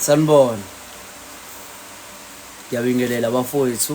sanibona ngiyabingelela bafowethu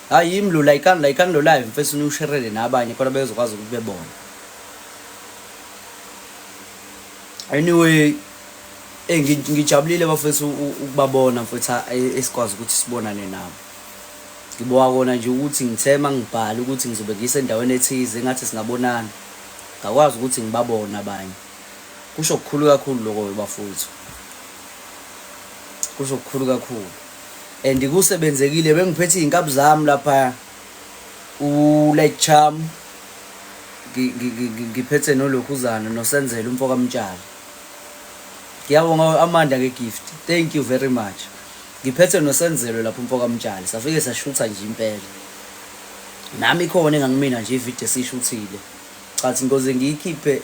hayi yimi lo layikani layikani lo live mfethu niwusherele nabanye khona bezokwazi ukuthi bebone anyway eh ngijabulile bafethu ukubabona mfethu esikwazi ukuthi sibonane nabo ngiboka kona nje ukuthi ngithema ngibhale ukuthi ngizobe ngisendaweni ethize engathi singabonana ngakwazi ukuthi ngibabone abanye kusho kukhulu kakhulu lokho bafowethu kusho kukhulu kakhulu and kusebenzekile bengiphethe izinkabi zami lapha uLake Charm ngiphethe nolokhuzana nosenzela umfo kamtshali ngiyabonga amanda ngegift thank you very much ngiphethe nosenzelo lapho umfo kamtshali safike sashutha nje impela nami khona engangimina nje ivideo sishuthile cathi ngoze ngiyikhiphe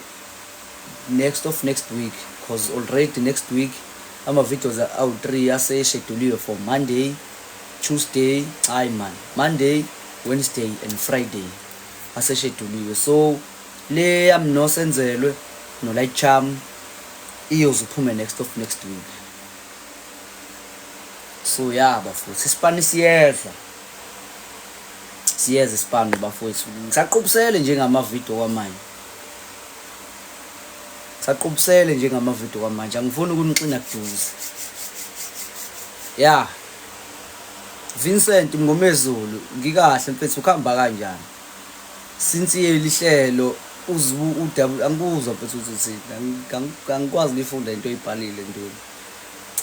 next of next week because already next week Ama videos awu three ase sheduliwe for Monday, Tuesday, hayi man, Monday, Wednesday and Friday ase sheduliwe. So le yam no senzelwe no light charm iyoze uphume next of next week. So yeah bafowethu isipani siyeza. Siyeza isipani bafowethu. Ngisaqhubusele nje ngama video kwamanje. saqubusele nje ngamavidiyo kwamanje angifuni ukunixina kuduze ya Vincent Mngomezulu ngikahle mfethu ukuhamba kanjani sinsiye lihlelo uzibu udabu angikuzwa mfethu uthi angikwazi ngifunda into oyibhalile ntweni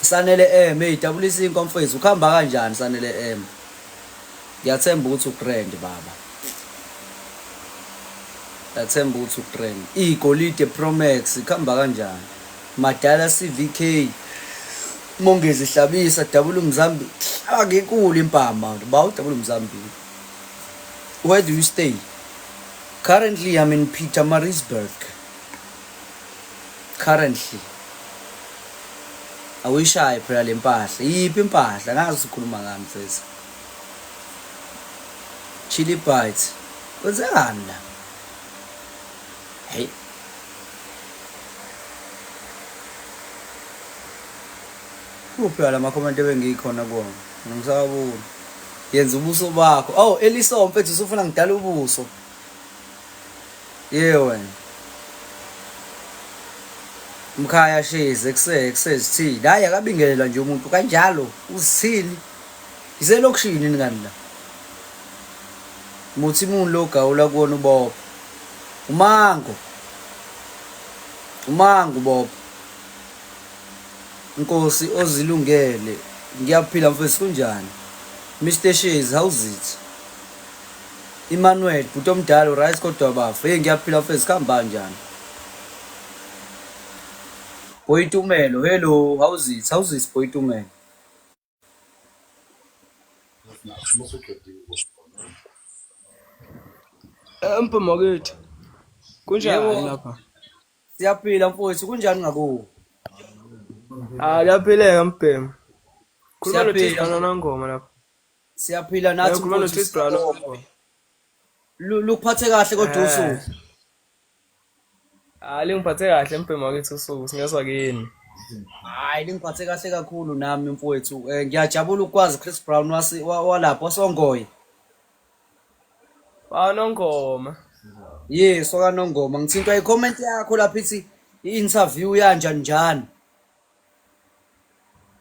sanele em hey dabulisa inkomfethu ukuhamba kanjani sanele em Ngiyathemba ukuthi ugrand baba. Ngiyathemba ukuthi ugrand. Igolide Pro Max ikhamba kanjani? Madala CVK. Mongezi Hlabisa double umzambi. Akekuli impama. Bawu double umzambi. Where do you stay? Currently I'm in Pietermaritzburg. currently awuyishaye phela le mpahla yiphi impahla ngazi ukhuluma ngami mfethu chili bites kwenzekani la hey kuphi la makhomenti ebengikhona kuwona ngisawabona yenza ubuso bakho oh eliso mfethu usufuna ngidala ubuso Ye wena. Mkhaya shezi ekuse ekusezithini. Hayi akabingelelwa nje umuntu kanjalo uzithini. Iselokishini ngani la. Muthi imuntu lo gawula kuwona uBob. Umango. Umango Bob. Nkosi ozilungele. Ngiyaphila mfethu kunjani? Mr Shezi how's it? Emmanuel bhuti omdala uryt kodwa bafo hey ngiyaphila mfethu kuhamba njani boyitumelo hello how's it how's it boyitumelo empo makithi kunjani lapha siyaphila mfowethu kunjani ngakuwo ah kuyaphileka mbhemu khuluma nothixana nangoma lapha Siyaphila Eh, nathi ukhuluma mfowethu noThis Brown. siyabonga. Lu- Lukuphathe kahle kodwa Eh. usuku. Hayi lingiphathe kahle mbhemu wakithi usuku singezwa kini. Hayi lingiphathe kahle kakhulu nami mfowethu. Eh, Ngiyajabula ukwazi Chris Brown wasi- wa- walapho wasongoye. Banongoma. Yes, sokanongoma. Ngithintwa i-comment yakho lapha ithi i-interview yanja njani.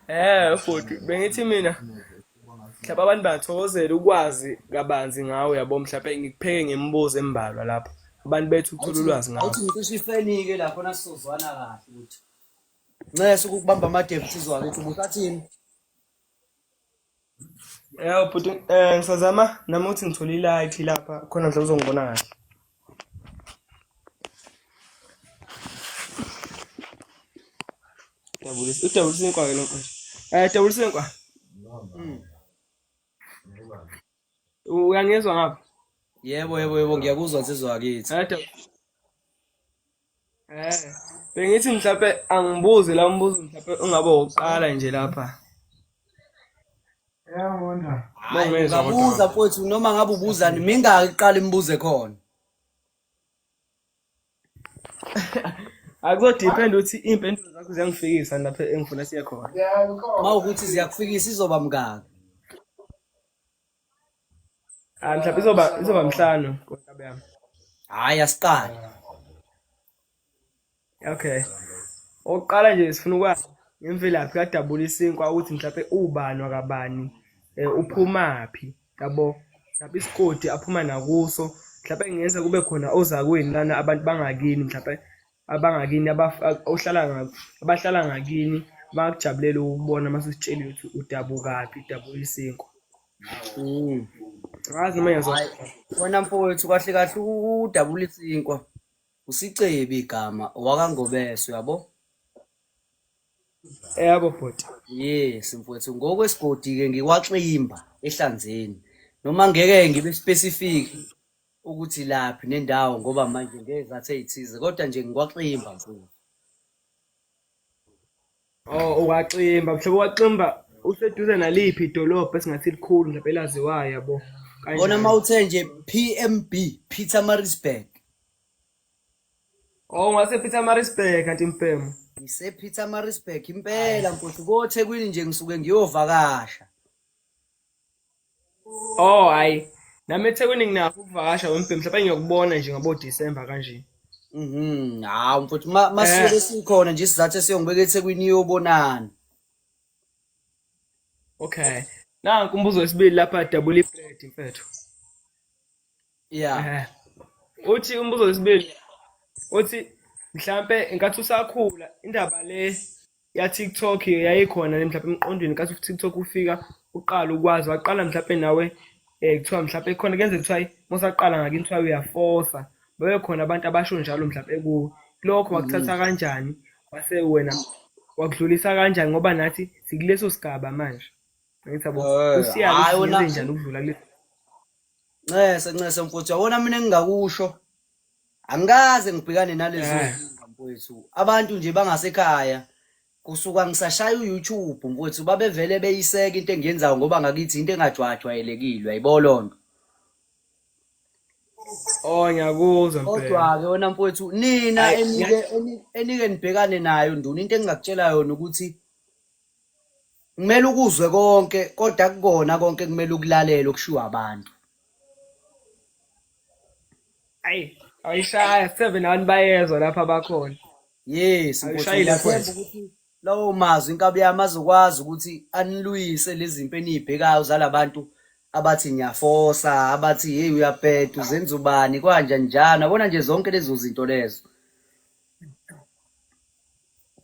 Eh futhi bengithi mina mhlawumbe abantu bathokozela ukwazi kabanzi ngawe yabo mhlawumbe ngikupheke ngemibuzo embalwa lapho abantu bethu ukuthola Awuthi ulwazi awuthi ngakho. ngicishe ifenike lapho nasizozwana kahle ukuthi. Nxese ukukubamba amadevu sizwa ukuthi ubusathini. Yebo bhuti eh ngisazama nami ukuthi ngithole i-light lapha khona nje uzongibona kahle. Dabulisa udabulisa inkwa ke lo mfana. Eh dabulisa inkwa. Uyangizwa ngapha? Yebo yebo yebo ngiyakuzwa nsizwa wakithi. Eh dabulisa Eh, bengithi mhlawumbe angibuzi la umbuzo mhlawumbe ungaba wokuqala nje lapha. Yabona. Mongeza kodwa. Ubuza mfowethu noma ngabe ubuzani mingaki iqala imibuze khona. Akuzodepend ukuthi impendulo zakho ziyangifikisa lapha engifuna siye khona. Uma ukuthi ziyakufikisa izoba mngaki? Ah mhlawumbe izoba izoba mhlanu konkabe yami. Hayi asiqali. Okay. Oqala nje sifuna ukwazi ngemvelaphi kadabula isinkwa ukuthi mhlawumbe ubani wakabani eh, uphumaphi yabo mhlawumbe isigodi aphuma nakuso mhlawumbe ngiyeza kube khona ozakwini lana abantu bangakini mhlawumbe abangakini ohlala abahlala ngakini bakujabulela ukubona uma sesitshela ukuthi udabukaphi udabuka isinkwa mm. ngazi noma yenza wena mfowethu kahle kahle udabula isinkwa usicebi igama owakangobese uyabo yabo bhuti yes mfowethu ngokwesigodi-ke ngikwaximba ehlanzeni noma ngeke ngibe specific ukuthi laphi nendawo ngoba manje ngezathu ey'thize kodwa nje ngikwaximba mfowethu Oh uwaximba mhlobo waximba useduze naliphi idolobha esingathi likhulu mhlawumbe elaziwayo yabo bona uma uthe nje PMB Peter Marisburg Oh ngase Peter Marisburg kanti impemo ngise Peter Marisburg impela mfowethu koThekwini nje ngisuke ngiyovakasha Oh hayi. Nami eThekwini nginakho ukuvakasha wembhe mhlawumbe ngiyokubona nje ngabo December kanje. Mhm. Hawu mfowethu ma Eh. masuke sikhona nje isizathu esiyongibeka eThekwini iyobonana. Okay. Nanku umbuzo wesibili lapha double bread mfethu. yeah uthi umbuzo wesibili uthi mhlambe inkathi usakhula indaba le ya TikTok yayikhona mhlawumbe emqondweni kathi TikTok ufika uqala ukwazi waqala mhlawumbe nawe eh kuthiwa mhlawumbe khona kenze kuthiwa mosaqala ngakini kuthiwa uyafosa babe khona abantu abasho njalo mhlawumbe ku lokho wakuthatha mm. kanjani wase wena wakudlulisa kanjani ngoba nathi sikuleso sigaba manje ngithi yabo eh, usiyalo njani ukudlula kuleso Ncese ncese mfuthu yabona mina engingakusho angikaze ngibhekane nalezo Eh. zinkinga, mfowethu abantu nje bangasekhaya kusuka ngisashaya uYouTube mfowethu babevele beyiseka into engiyenzayo ngoba ngakithi into engajwajwayelekile yayibona loo nto Oh ngiyakuzwa mpela. kodwa-ke wena mfowethu nina Ayi, enike eni- enike nibhekane nayo nduna into engingakutshela yona ukuthi kumele ukuzwe konke kodwa kukona konke kumele ukulalele okushiwo abantu ayi ayishaya seven abantu bayezwa lapha bakhona yes ukuthi lawo mazwi inkabi yami azokwazi ukuthi anilwise lezi zinto eniyibhekayo zalabantu abathi ngiyafosa abathi hey uyabheda uzenza ubani kwanja njani abona nje zonke lezo zinto lezo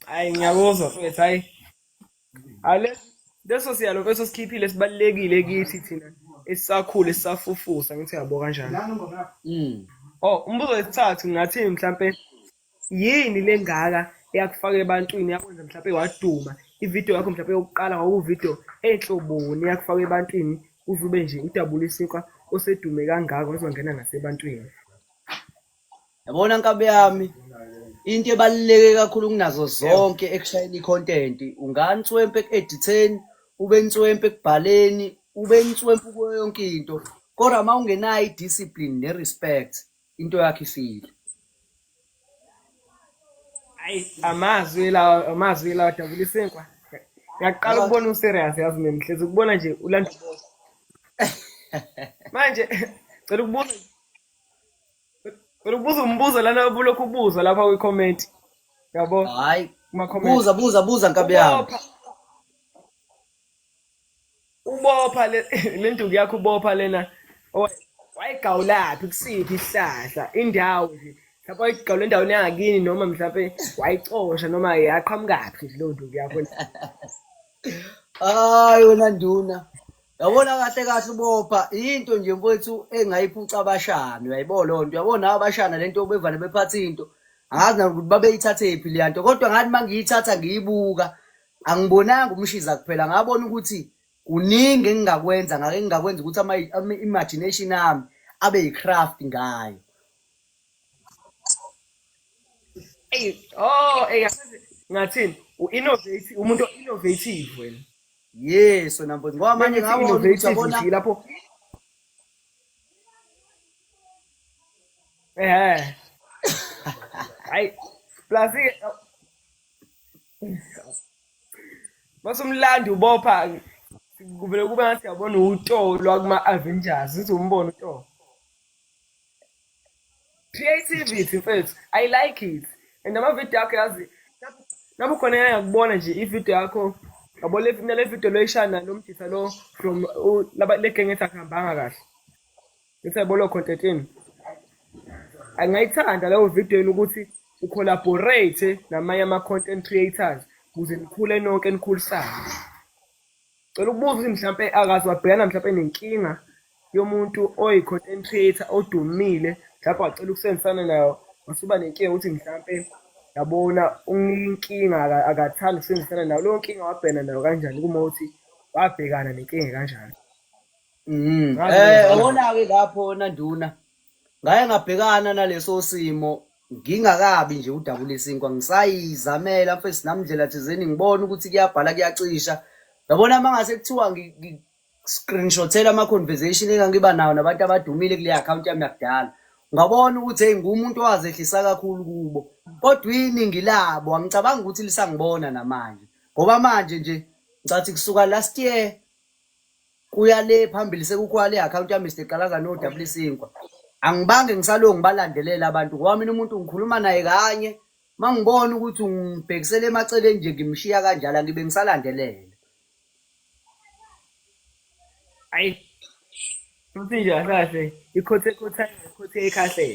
hayi ngiyakuzwa mfethu hayi ale leso siyalo mfethu osikhiphile sibalulekile kithi thina esisakhula esisafufusa ngithi yabo kanjani Mm. oh umbuzo wesithathu ngathi mhlampe yini lengaka eyakufaka ebantwini yakwenza mhlampe waduma ivideo yakho mhlampe yokuqala kwakuvidio enhloboni yakufaka ebantwini uze ube nje udabula isinkwa osedume kangaka wazongena nasebantwini Yabona nkabe yami into ebaluleke kakhulu kunazo zonke ekushayeni i-content unganswempe eku-editheni ube nswempe ekubhaleni ube nswempe kuyo yonke into kodwa uma ungenayo i-discipline ne-respect into yakho ifile ayi amazwi lawa amazwi lawa jabulisa inkwa ngiyaqala ukubona userious yazi mina ngihlezi ukubona nje ulanda manje cela ukubuza Ubuza umbuzo lana ubulokhu ubuza lapha kwi comment. Yabo? Hayi. Kuma comment. Buza buza buza nkabi yami. Ubopha le lenduku yakho ubopha lena. Wayigawulaphi kusiphi isihlahla indawo nje. Lapho igawula endaweni yangakini noma mhlawumbe wayicosha noma yaqhamukaphi leyo nduku yakho. Hayi wena nduna. yabona kahle kahle ubopha into nje mfowethu engayiphuca abashana uyayibo loo nto uyabona nabo abashana le nto bevane bephatha into angazi nakuthi babeyithathephi leya nto kodwa ngathi uma ngiyithatha ngiyibuka angibonanga umshiza kuphela ngabona ukuthi kuningi engingakwenza ngake ngingakwenza ukuthi ama-imagination ami abe yi-craft ngayo eyi oh eyi ngathini u-innovate umuntu o-innovative wena yes wena mfowethu ngoba manje Manje ngakho innovative ngiyabona nje lapho eh hayi plus ke- mase umlandi ubopha kuvele kube ngathi yabona utolo akuma Avengers uthi umbona utolo creativity mfethu i like it and amavidiyo akho yazi nami khona yayakubona nje ividiyo yakho yabo le nale vidiyo loyishana lo mdisa lo from u- laba- le genge ethi akuhambanga kahle ethi yabo lo content enu angayithanda leyo video yenu ukuthi ucollaborate namanye ama-content creators ukuze nikhule nonke nikhulisane Cela ukubuza ukuthi mhlampe akaze wabhekana mhlampe nenkinga yomuntu oyi-content creator odumile mhlampe wacela ukusebenzisana nayo wasuba nenkinga ukuthi mhlampe yabona unginkinga akathandi ukusebenzisana nayo leyo nkinga wabhekana nayo kanjani kuma ukuthi wabhekana nenkinga kanjani mm. eh awona-ke lapho nanduna ngaye ngabhekana naleso simo ngingakabi nje udabula isinkwa ngisayizamela mfethu namndlela thizeni ngibona ukuthi kuyabhala kuyacisha yabona uma ngase kuthiwa screenshothela ama-conversation engangiba nawo nabantu abadumile kule akhawunti yami yakudala ngabona ukuthi heyi ngumuntu owazehlisa kakhulu kubo kodwa iningi labo angicabangi ukuthi lisangibona namanje ngoba manje nje ngicathi kusuka last year kuya le phambili sekukhona le account ya Mr Qalaza no double sinkwa angibange ngisalongi balandelela abantu ngoba mina umuntu ngikhuluma naye kanye mangibona ukuthi ngibhekisele emaceleni nje ngimshiya kanjalo ngibe ngisalandelela ayi futhi nje akahle ikhothe khotha ikhothe ekahle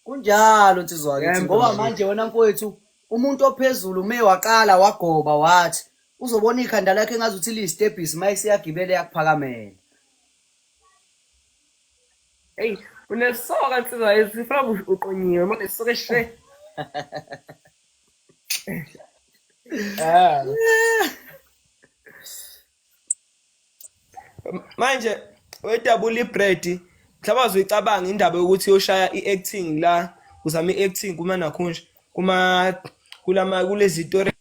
kunjalo nsizwa ngithi ngoba manje wena mfowethu umuntu ophezulu ume waqala wagoba wathi uzobona ikhanda lakhe engazi ukuthi liyistebhisi uma isiyagibela yakuphakamela eyi unesoka nsizwa esifuna uqonyiwe mane soke she ah. manje wedabula ibread mhlawumbe azoyicabanga indaba yokuthi yoshaya i-acting la uzama i-acting kuma nakhunje kuma kulama kulezi story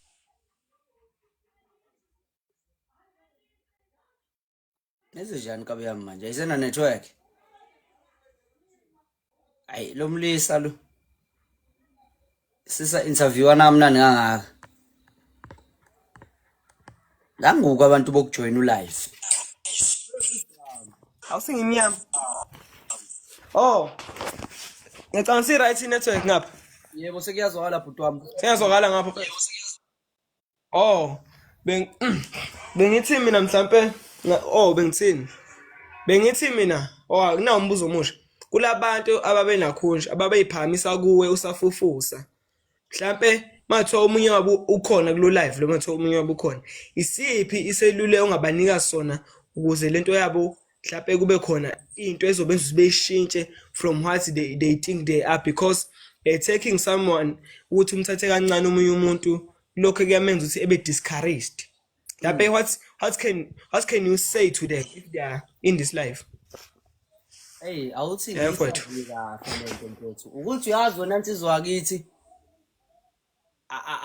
Neze njani kabi yami manje? Ayisena network. Ayi lo mlisa lo. Sisa interview anamnani kangaka. Nanguku abantu bokujoin ulive. Awusingimnyama. Oh. Ngicabanga si right network ngapha. Yebo sekuyazwakala bhuti wami. Sengiyazwakala ngapho. Oh, beng bengithi mina mhlampe nga- oh bengithini? Bengithi mina oh akunawo umbuzo omusha. Kulabantu ababenakhunja ababeyiphakamisa kuwe usafufusa. Mhlampe mathiwa omunye wabo ukhona kulo live lo mathiwa omunye wabo ukhona. Isiphi iselule ongabanika sona ukuze lento yabo mhlawumbe kube khona into ezobenza ukuthi beyishintshe from what they, they think they are because uh, taking someone ukuthi umthathe kancane omunye umuntu lokho kuyamenza ukuthi ebe discouraged mhlawumbe what, what, can, what can you say to them if they are in this life eyi awuthi kahle lento mfethu ukuthi uyazi wena nsizwa kithi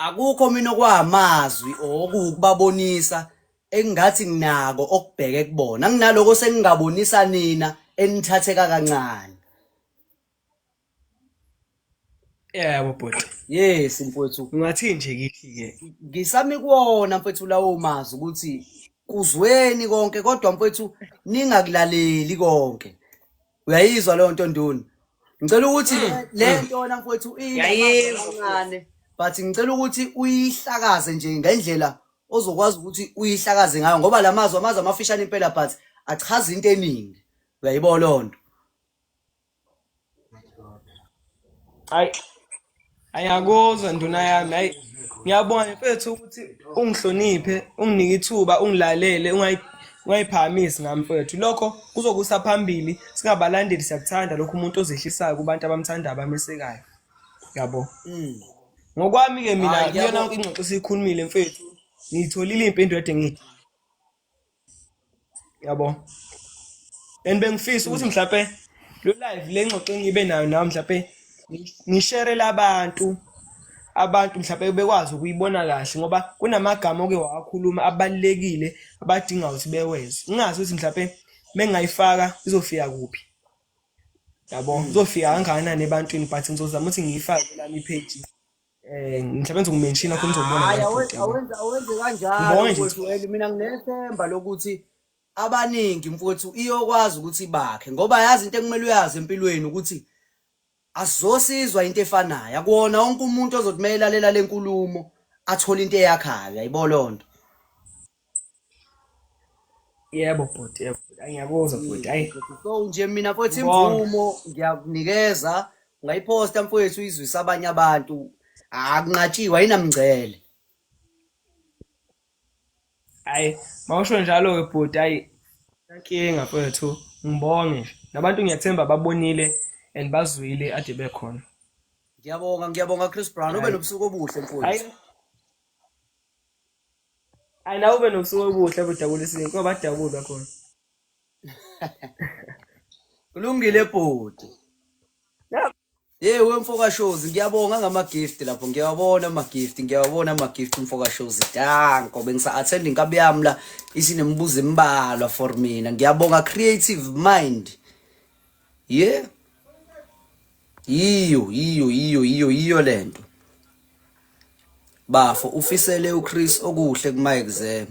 akukho mina okwamazwi okuwukubabonisa engathi nginako okubheke kubona nginaloko sengingabonisa nina enithatheka kancane yebo bhuti yes mfowethu ngathi nje kithi ke ngisami kuwona mfowethu lawo mazwi ukuthi kuzweni konke kodwa mfowethu ningakulaleli konke uyayizwa leyo nto nduna ngicela ukuthi mm. le mm. nto wena mfowethu iyinamancane but ngicela ukuthi uyihlakaze nje ngendlela ozokwazi ukuthi uyihlakaze ngayo ngoba la mazwi amazwi amafishane impela but achaza into eningi uyayibona loo nto Ayakuzwa nduna yami hayi ngiyabona mfethu ukuthi ungihloniphe unginike ithuba ungilalele ungayi- ungayiphakamisi ngami mfethu lokho kuzokusa phambili singabalandeli siyakuthanda lokho umuntu ozehlisayo kubantu abamthandayo abamesekayo yabo ngokwami-ke mina Hhayi, kuyona ngiyabo- yonke ingxoxo esiyikhulumile mfethu ngiyitholile iy'mpendulo ade ngithi yabo and bengifisa ukuthi mhlawumpe lo live le ngxoxo engibe nayo nawe mhlawumpe ngisherele abantu abantu mhlawumpe bekwazi ukuyibona kahle ngoba kunamagama oke wawakhuluma abalulekile abadinga ukuthi beweze ngingazi ukuthi mhlawumpe mengingayifaka izofika kuphi yabo izofika kangakanani ebantwini but ngizozama ukuthi ngiyifake lami ipage Eh mhlawumbe ngizokumenshina khona uzobona Hhayi, la awe- futhi. yabo. awenze awenze Ngibonge kanjalo nje. mfowethu Weli. Mina nginethemba lokuthi abaningi mfowethu iyokwazi ukuthi bakhe ngoba yazi into ekumele uyazi empilweni ukuthi asizosizwa into efanayo. Akuwona wonke umuntu ozothi uma elalela le nkulumo athole into eyakhayo. Yayibona loo nto. Yebo bhuti, yebo bhuti. Ayi, Ngiyakuzwa bhuti. Ayi. so nje mina futhi Ngibonge. imvumo ngiyakunikeza ungayiphosta mfowethu izwisa abanye abantu akunqatshiwe ayinamngcele Ayi, mawusho njalo ke bhuti. Ayi. Inkinga mfowethu. Ngibonge nje. Nabantu ngiyathemba babonile and bazwile ade bekhona. ngiyabonga ngiyabonga chris brown ube Ayi. nobusuku obuhle Ayi. mfowethu Hayi nawe ube nobusuku obuhle budabula isinto ngoba badabulwa khona. Kulungile bhuti. Ya Hey wemfoka shows ngiyabonga ngama gift lapho ngiyawabona ama gift ngiyawabona ama gift mfoka shows danko bengisa attend inkabi yami la isinemibuzo embalwa for mina ngiyabonga creative mind Yeah. Yiyo, yiyo, yiyo, yiyo, yiyo lento. Bafo ufisele uChris okuhle kuma exam.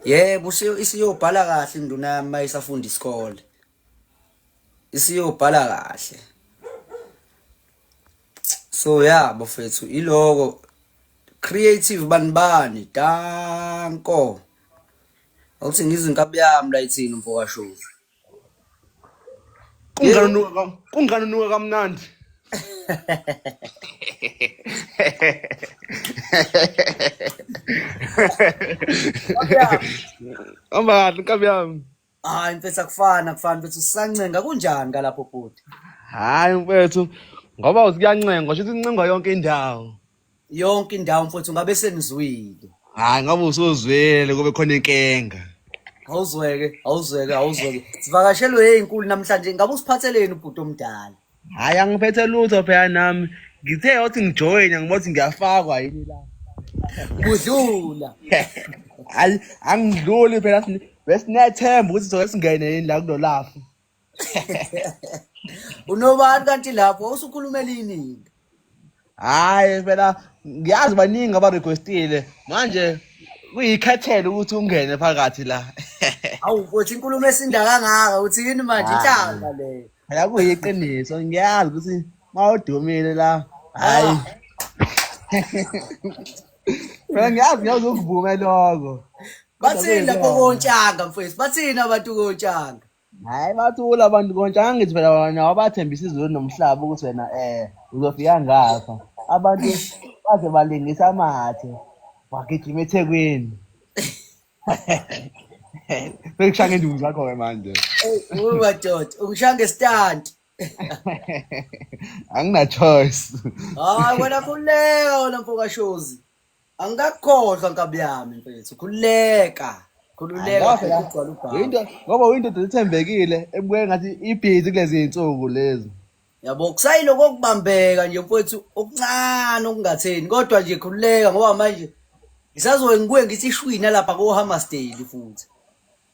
Yebo isiyobhala kahle induna yami mayisafunda isikole. Isiyobhala kahle. So yeah bafethu iloko creative banibani danko. Awuthi ngizinkabi yami la ithini mfoka show. Kungani unuka ka- kungani unuka kamnandi? Hamba kahle nkabi yami. Hayi mfethu akufani akufani mfethu sisancenga kunjani kalapho bhuti? Hayi mfethu ngoba uthi kuyancenga, sho ukuthi incenga yonke indawo. yonke indawo mfowethu ngabe senizwile hayi ngabe usuzwele kube khona inkinga awuzweke awuzweke awuzweke sivakashelwe eyinkulu namhlanje ngabe usiphatheleni ubhuti omdala hayi angiphethe lutho phela nami ngithe yothi ngijoyina ngibothi ngiyafakwa yini la kudlula hayi angidluli phela besinethemba ukuthi soke singene yini la kulolafu unobani kanti lapho usukhulumela iningi hayi phela ngiyazi baningi abarequestile manje kuyikhethele ukuthi ungene phakathi la awu uthi inkulumo esinda kangaka uthi yini manje inhlamba leyo phela kuyiqiniso ngiyazi ukuthi mawudumile la hayi phela ngiyazi ngiyazi ukuvume lokho bathini lapho kontshanga mfowethu bathini abantu kontshanga Hayi bathula abantu konje angithi phela wena wabathembisa izulu nomhlaba ukuthi wena eh uzofika ngapha. Abantu baze balingisa amathe. Wagijima eThekwini. Bekushaya ngenduku zakho ke manje. Uyi madoda, ungishaya ngestand. Angina choice. Hayi wena khuleka wena mfoka Shozi. angikakhohlwa nkabi yami mfethu khululeka khululeka Angikakhohlwa. futhi ugcwala ubhamu Uyinto ngoba uyindoda ethembekile ebukeka ngathi ibhizi kulezi zinsuku lezi. yabo kusayiloko okubambeka nje mfethu okuncane okungatheni kodwa nje khululeka ngoba manje ngisazoke ngibuye ngithi ishwina lapha kohammersdale futhi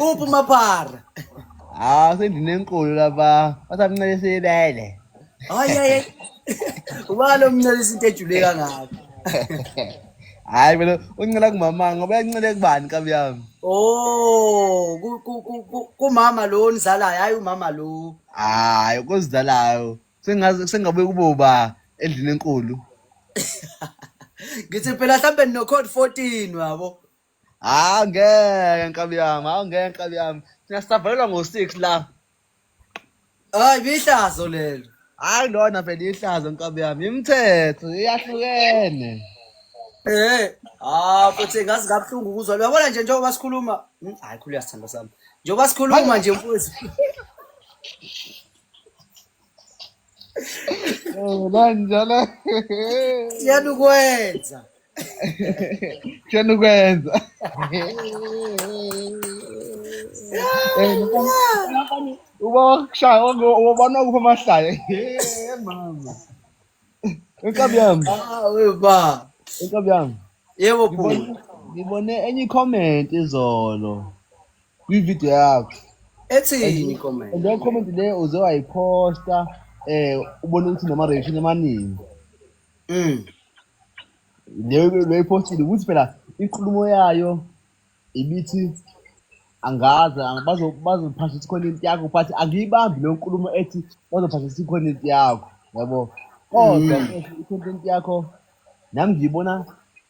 uphi umaphara hawu ah, sendinenkulu laba basamncelisa ibele hayi ubalo mncelisa into ejule kangaka hayi mina uncela kumama ngoba yancele kubani kabi yami oh kumama lo nizalayo hayi umama lo hayi kozidalayo sengaze sengabe kuboba endlini enkulu ngithi phela mhlawumbe nino code 14 wabo hawu ngeke nkabi yami hawu ngeke nkabi yami thina sisavalelwa ngo-six la hayi bihlazo lelo hayi lona vele ihlazo nkabi yami imithetho iyahlukene Eh, ah futhi ngazi kabuhlungu ukuzwa. Uyabona nje njengoba sikhuluma, Hmm, hayi khulu uyasithanda sami. Njengoba sikhuluma nje mfowethu. Lanjalo. Siyani ukwenza. Siyani ukwenza. Uba wakushaya wabona kupha amahlaya. Mama. Inkabi yami. Ah, we ba. Inkabi yami. Yebo bhuti. Ngibone enye comment izolo. kwividiyo yakhe ethini comment leyo comment leyo uze wayiphosta eh ubone ukuthi nama-reaction amaningi mm. leyo loyiphostile ukuthi phela inkulumo yayo ibithi angazi bazophasha ukuthi khona into yakho but angiyibambi leyo nkulumo ethi bazophasha ukuthi khona into yakho yabo kodwa mm. i-content yakho nami ngiyibona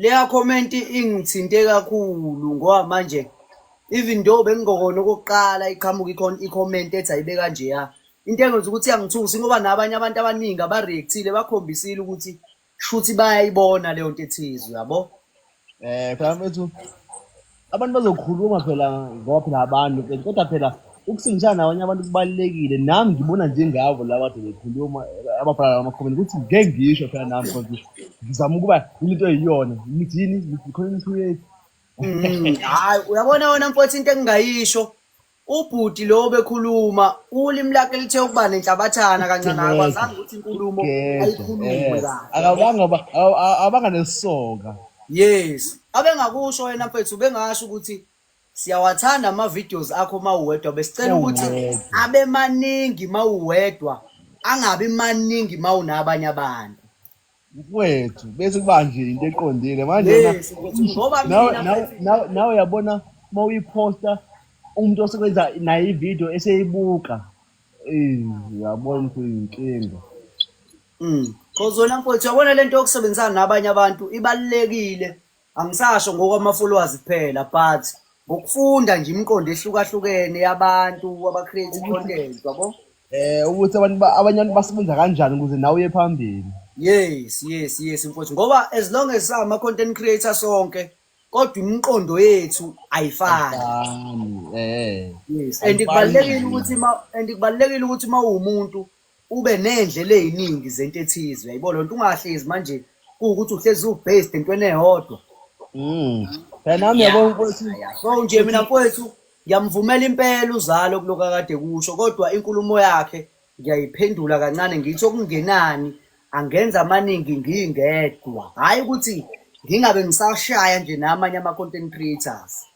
Leya comment ingithinte kakhulu ngoba manje even though bengingokona okokuqala iqhamuka ikhona i-comment ethi ayibe kanjeya into engenza ukuthi yangithusi ngoba nabanye abantu abaningi abareactile bakhombisile ukuthi shuthi bayayibona leyo nto ethizwe yabo eh khona mfethu abantu bazokhuluma phela ngoba phela abantu ke kodwa phela ukusindisana nabanye abantu kubalulekile nami ngibona njengabo laba kade bekhuluma ababhala la makhomeni ukuthi ngeke ngisho phela nami because ngizama ukuba into eyiyona ngithi yini ngithi khona into yethu Mm, hayi uyabona wena mfowethu into engingayisho Ubhuti lo obekhuluma ulimi lakhe lithe ukuba nenhlabathana kancane akwazanga ukuthi inkulumo ayikhulume akabanga abanga nesoka yes abengakusho wena mfethu bengasho ukuthi siyawathanda ama-videos akho uma uwedwa besicela ukuthi abe maningi uma uwedwa angabi maningi uma unabanye abantu mfowethu bese kuba nje into eqondile manje na- Yes, mfowethu, usho- ngoba nawe mina nawe- mfowethu- nawe- nawe uyabona uma uyiposta umuntu osebenza naye ividiyo eseyibuka Eh, uyabona ukuthi uyinkinga Mm. Cause wena mfowethu uyabona lento yokusebenzisana nabanye abantu ibalulekile Angisasho ngokwamafollowazi kuphela but ngokufunda nje imiqondo ehlukahlukene yabantu abacreate content yabo eh ukuthi abantu ba- abanye abantu basebenza kanjani ukuze nawe uye phambili yes yes yes mfowethu ngoba as long as sama content creator sonke kodwa imiqondo yethu ayifani Fani, eh yes and kubalulekile ukuthi ma and kubalulekile ukuthi mawumuntu ube ney'ndlela ey'ningi zento ethize uyayibo lo nto ungahlezi manje kuwukuthi uhlezi u-based entweni eyodwa Mm. Phela nami yabo mfowethu. So nje mina mfowethu ngiyamvumela impela uzalo kuloku akade kusho kodwa inkulumo yakhe ngiyayiphendula kancane ngithi okungenani angenza amaningi ngingedwa hhayi ukuthi ngingabe ngisashaya nje namanye ama-content creators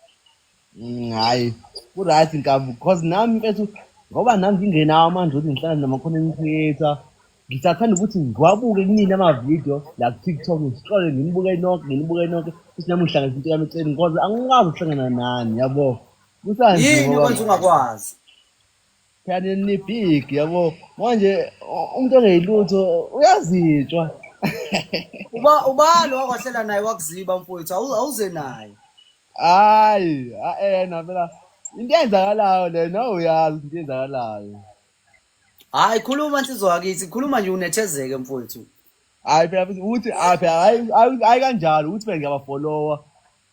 Mm, hhayi ku-right nkabi because nami mfethu ngoba nami ngingenawo amandla ukuthi ngihlala nama-content creator ngisathanda ukuthi ngiwabuke kunini amavidiyo la ku-tiktok ngihlole nginibuke nonke nginibuke nonke futhi nami ngihlanganisa into yami eceleni because angikwazi ukuhlangana nani yabo kusanje yini ngoba okwenza ungakwazi Kanti ni big yabo. Manje u- umuntu ongeyilutho uyazitshwa. uba ubani wakwahlela naye wakuziba mfowethu awu- awuze naye Hayi, a- eh yena phela into eyenzakalayo le no uyazi into eyenzakalayo. hayi khuluma nsizwa wakithi khuluma nje unethezeke mfowethu Hayi phela futhi uthi aphe hayi hayi hayi kanjalo uthi phela ngiyabafolowa.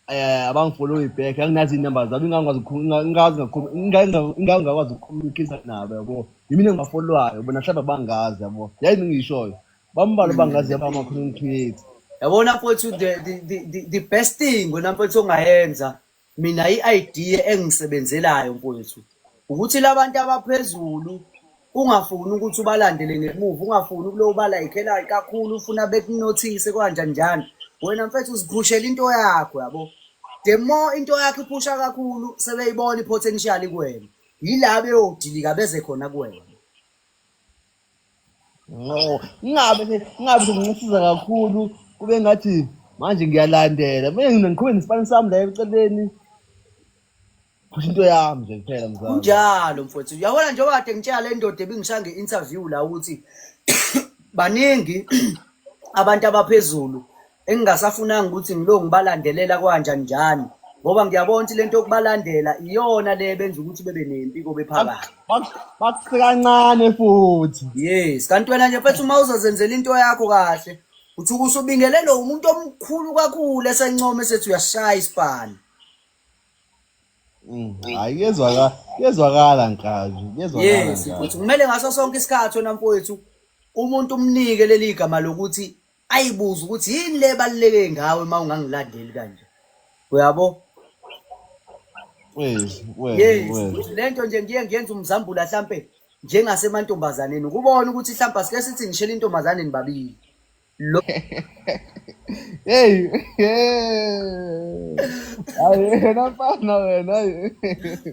Eh abangifolowi back anginazi inumber zabo ingangikwazi ukukhuluma ingazi ngakhuluma ingazi ingangikwazi ukukhulumikisa nabo yabo. Yimina engibafolwayo bona hlaba bangazi yabo. Yayi ngishoyo. Bambalo bangazi yabo ama content creator. Yabona mfowethu the, the, the, the, the best thing wena mfowethu ongayenza mina i-idea engisebenzelayo mfowethu ukuthi labantu abaphezulu ungafuni ukuthi ubalandele ngemuva ungafuni ukulo ubala ikhela kakhulu ufuna bekunothise kanjani njani wena mfethu uziphushela into yakho yabo the more into yakho iphusha kakhulu sebeyibona i-potential kuwena yila beyodilika beze khona kuwena no ingabe ingabe ngincisiza kakhulu kube ngathi manje ngiyalandela mina ngiqhubeke nesipani sami la eceleni Kusho into yami nje kuphela mzala. Kunjalo mfowethu. Yabona njengoba kade ngitshela le ndoda ebingisha nge-interview la ukuthi baningi abantu abaphezulu engingasafunanga ukuthi ngilo ngibalandelela kwanjani njani ngoba ngiyabona ukuthi lento yokubalandela iyona le benza ukuthi bebe nempi kobe phakathi Bakusike kancane futhi. yes kanti wena nje mfethu uma uzozenzela into yakho kahle uthi ukusubingelelo umuntu omkhulu kakhulu esencome sethi uyashaya isibhani Mm, hayi kuyezwakala kuyezwakala nkazi kuyezwakala yes nkazi mfowethu kumele ngaso sonke isikhathi wena mfowethu umuntu umnike leli gama lokuthi ayibuze ukuthi yini le baluleke ngawe uma ungangilandeli kanje uyabo wezi wezi yes wezi lento nje ngiye ngiyenza umzambula hlampe njengasemantombazaneni ukubona ukuthi hlampe asike sithi ngishela intombazaneni babili Lo- Hey, hey. Hayi wena mfana wena. hayi.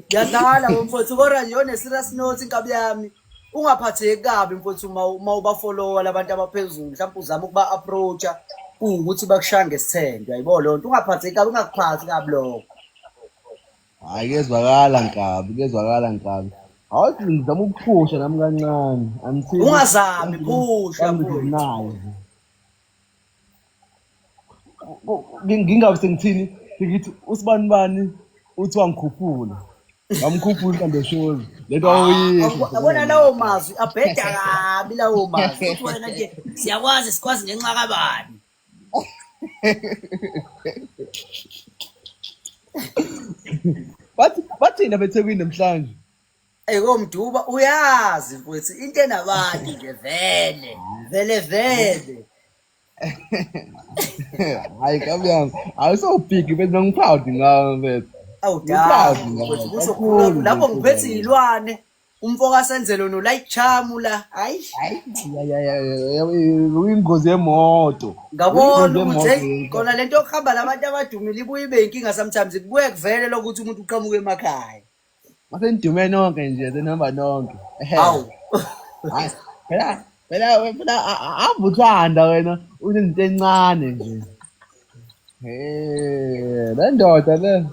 ngiyadlala bo mfowethu kodwa nje one-serious note inkabi yami ungaphatheki kabi mfowethu uma uma ubafolowa labantu abaphezulu mhlawumbe uzama ukuba-approacha kuwukuthi bakushaye ngesithende yayibo loo nto ungaphatheki kabi ungakuphathi kabi lokho Hhayi kuyezwakala nkabi, kuyezwakala nkabi. Hawu sisi ngizama ukuphusha nami kancane. Angithini. Ungazami, phusha, Angizinayo. Ngingabe sengithini? Ngithi usibani bani uthi wangikhuphula. Ngamkhuphula mhlambe shozi. Lento awuyisho. Yabo- Yabona lawo mazwi abheda kabi lawo mazwi. Uthi wena nje siyakwazi sikwazi ngenxa kabani. bathi bathini abethekwini namhlanje Ey komduba uyazi mfowethu into enabantu nje vele vele vele hayi kamyami awusawubhigi bese bengiphawudi ngawe mfethu awudala Uphawudi ngawe mfowethu kusho khulu kakhulu lapho mfethu. ngiphethe izilwane Umfoka Senzelo no like charm la. Hayi. Uyingozi yemoto. Ngabona ukuthi kona lento yokuhamba labantu abadumile ibuye ibe inkinga sometimes kubuye kuvele lokuthi umuntu uqhamuke emakhaya. Mase nidume nonke nje senihamba nonke. Hawu. Hayi. Phela phela phela avuthanda wena unezinto encane nje. Eh, le ndoda le.